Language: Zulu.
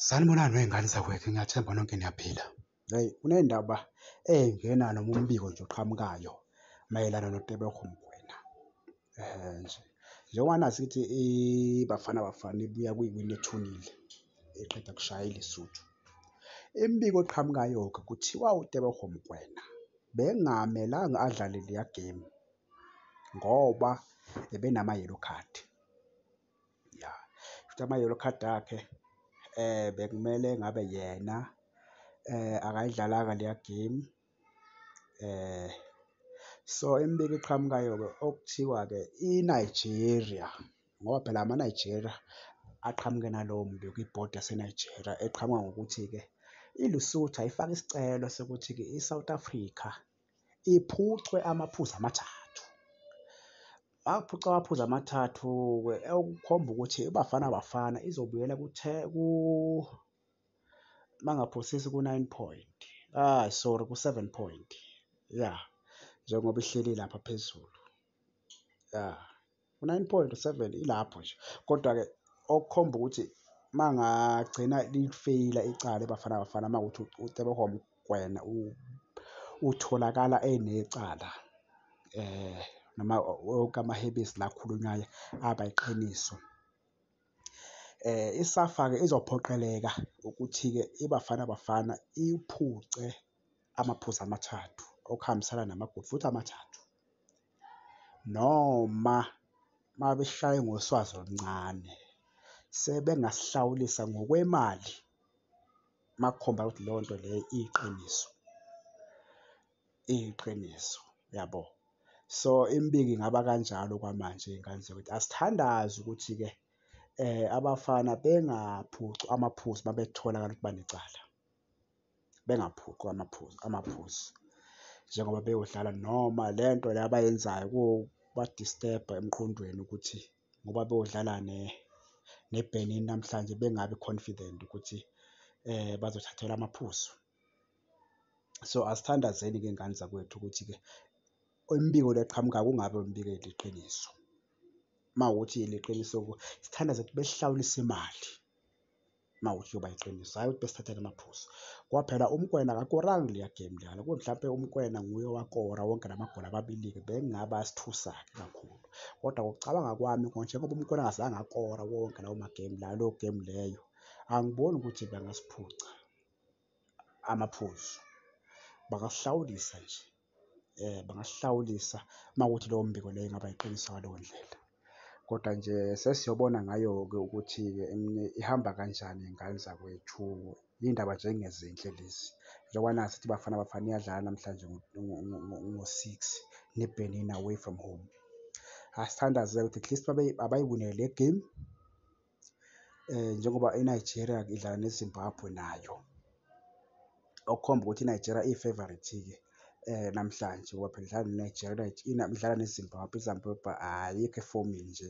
Sanibonani wey'ngane zakwethu ngiyathemba nonke niyaphila. Hhayi kunendaba engena noma umbiko nje oqhamukayo mayelana noTeboho Mokoena. Um nje njengoba nazi ukuthi iBafana Bafana ibuya kuyiwina ethunile eqeda kushaya iLesotho. Imibiko eqhamukayo-ke kuthiwa uTeboho Mokoena bekungamelanga adlale leya game ngoba ebenama-yellow card. ya futhi ama-yellow card akhe um bekumele ngabe yena um akayidlalanga leya game um so imibiko eqhamukayo-ke okuthiwa-ke i-Nigeria ngoba phela ama-Nigeria aqhamuke nalowo mbiko ibhodi yase-Nigeria eqhamuka ngokuthi-ke iLesotho ayifake isicelo sokuthi-ke i-South Africa. iphucwe amaphuzu amathathu. Waphuca amaphuzu amathathu okukhomba ukuthi iBafana Bafana izobuyela kuthe ku mangaphosisi ku-9 point. Ah sorry ku-7 point. Yeah. Njengoba ihleli lapha phezulu. Yeah. 9.7 ilapho nje kodwa-ke okukhomba ukuthi uma ngagcina lifeyila icala ebafana bafana uma ukuthi ucebehwa umgwena utholakala enecala um noma wonke amahebezi la akhulunywayo aba iqiniso. Um isafa-ke izophoqeleka ukuthi-ke ibafana bafana iphuce amaphuzu amathathu okuhambisana namagoli futhi amathathu noma mabeshaye ngoswazi oluncane sebengasihlawulisa ngokwemali makukhomba ukuthi leyo nto leyo iyiqiniso iyiqiniso yabo so imibiki ingaba kanjalo kwamanje ingane ukuthi asithandazi ukuthi-ke um abafana bengaphucwa amaphuzu uma betholakala ukuthi banecala. bengaphuqwa amaphuzu amaphuzu njengoba beyodlala noma le nto le abayenzayo kubadistebha emqondweni ukuthi ngoba beyodlala neBenin namhlanje bengabi confident ukuthi um bazothathelwa amaphuzu. So, asithandazeni-ke ngani zakwethu ukuthi-ke imibiko le eqhamuka kungabe imibiko eliqiniso. Uma kuwukuthi liqiniso-ke sithandaze ukuthi besihlawulise imali. mawuyoba iqiniso hayi ukuthi besithathele amaphuzu ngoba phela umkwena akakoranga leya game leyana kube mhlawumpe umkwena nguye owakora wonke la magoli ababili-ke bengingaba sithusa-ke kakhulu kodwa ngokucabanga kwami njengoba umkwena angazange akora wonke lawo magame layo leyo game leyo angiboni ukuthi bangasiphuca amaphuzu bangahlawulisa nje eh bangahlawulisa makuthi lowo mbiko leyo ingaba iqiniso ngaleyo ndlela kodwa nje sesiyobona ngayo-ke ukuthi ihamba kanjani ingane zakwethu iy'ndaba nje engezinhle lezi njengoba nazi sithi bafana bafana iyadlala namhlanje ngo-six nebenin away from home asithandaze ukuthi at least abayiwinele le game njengoba iNigeria idlala neZimbabwe nayo, okukhomba ukuthi iNigeria iyi-favourite-ke namhlanje ngoba phela idlala neNigeria, idlala neZimbabwe, iZimbabwe ayikho efomini nje.